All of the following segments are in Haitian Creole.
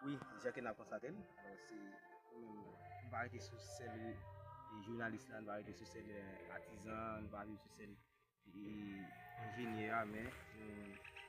Wi, jan ke n ap konstate l, se pou nou nou pa rete sou sèl jounalis la, nou pa rete sou sèl atizan an, nou pa rete sou sèl enjenyè a, men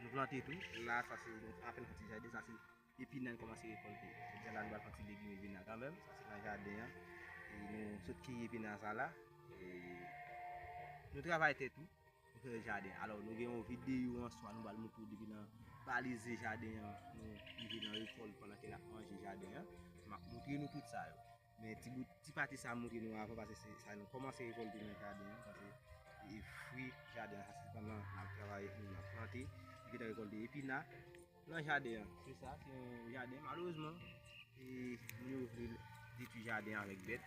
nou plante tou. La sa se nou apen fè ti jaden, sa se epinay nou kòmanse rekòlte. Jodia la nou pral fè yon ti legim epinay kanmenm, sa se nan jaden an. Nou sot kiye epinay sa la. Nou travay tè tou. Nou fè jaden, alò nou gen yon videyo answa nou bal moutre w depi nan balize jaden an, nou rive nan rekòl pandan ke nap manje jaden an, map moutre nou tout sa yo. Men ti bout, ti pati sa m moutre nou avan pase se sa nou kòmanse rekolte nan jaden an, pase e fwi jaden an sa se pandan nap travay, nou nap plante, nou gentan rekolte epina. Nan jaden an. Se sa, se yon jaden. Malerezman, moun yo vle detwi jaden avèk bèt.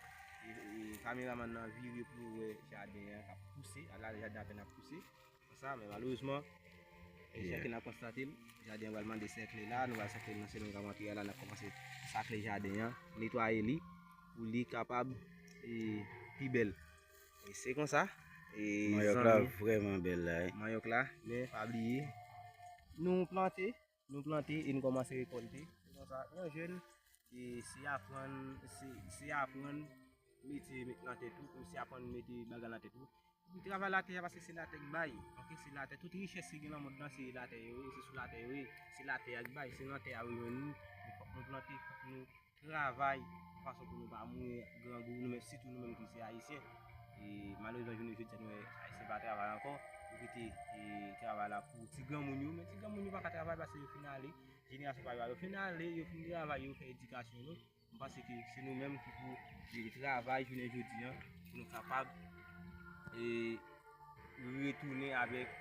Kameraman nan vire pou l wè jaden an k ap pouse. A la, jaden an apèn ap pouse. Konsa, men malerezman, jan ke n ap konstate l, jaden an pral mande sèkle la. Nou pral sèkle l nan semèn k ap antre yo la. N ap kòmanse sakle jaden an, netwaye li pou li kapab pi bèl. Se konsa. Manyòk la vreman bel la. Manyòk la. Men pa bliye. Nou plante. Nou plante e nou komanse rekolte. Se konsa. Yon jen. E se aprann. Se aprann. Mete met nan tèt ou. Se aprann mete bagay nan tèt ou. Ou travay la tè a paske se la tè ki bay. Ok se la tè. Tout richès ki gen nan mond nan se la tè yo ye. Se sou la tè yo ye. Se la tè a ki bay. Se nan tè a yo ye. Nou fok nou plante. Fok nou. travay yon fason pou nou pa mouri grangou nou menm sitou nou menm ki se ayisyen e malerezman jounen jodi a nou wè ayisyen pa travay ankò yo kite travay la pou ti granmoun yo men ti granmoun yo paka travay paske yo fin ale jenerasyon pa yo a yo fin ale yo fin travay yo fè edikasyon yo m panse ke se nou menm ki pou jere travay jounen jodi a pou nou kapab retounen avèk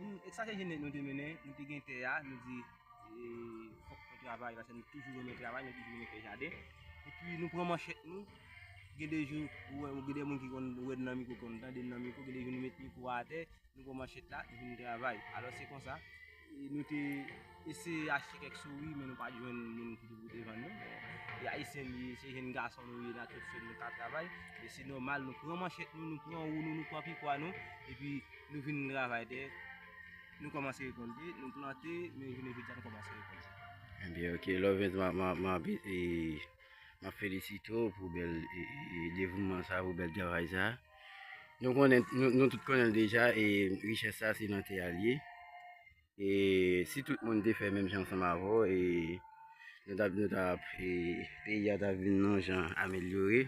Ek sa ke jene nou te mennen, nou te gen tè a, nou di fok nou travay, pase nou toujou renmen travay, nou toujou renmen fè jaden. E pi nou pran manchèt nou, gen de jou, gen de moun ki konn wè nan miko, konn tande nan miko, gen de jou nou met miko a atè, nou pran manchèt la, nou vin travay. Alò se konsa, nou te... Ese achte kèk souri men nou pa jwenn moun ki pou devann nou. E Ayisyen nou ye, se jenn gason nou ye, n a tout fè nou ka travay. E se nòmal nou pran manchèt nou, nou pran wou nou, nou pran pikwa nou, epi nou vin travay tè, nou kòmanse rekolte, nou plante, men jounen jodi a nou kòmanse rekolte. Ebyen ok Lovens map felisite w pou bèl devouman sa, pou bèl travay sa. Nou tout konnen l deja e richès sa se nan tè a l ye. E si tout moun te fè menm jan ansanm avè w, e nou ta nou ta e peyi a ta vin yon jan amelyore.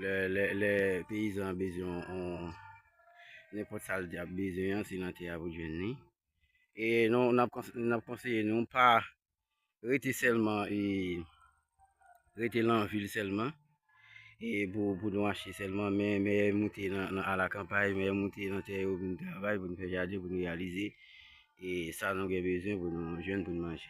Lè lè lè peyizan an bezwen yon yon nenpòt sa l ap bezwen an se nan tè a pou l jwenn li. E nou n ap kons n ap konseye nou pa Rete sèlman e rete lan vil sèlman e pou pou nou achte sèlman men mèyè moute nan a la kanpay mèyè moute nan tè yo pou nou travay pou nou fè jaden pou nou reyalize e sa nou gen bezwen pou nou jwenn pou nou manje.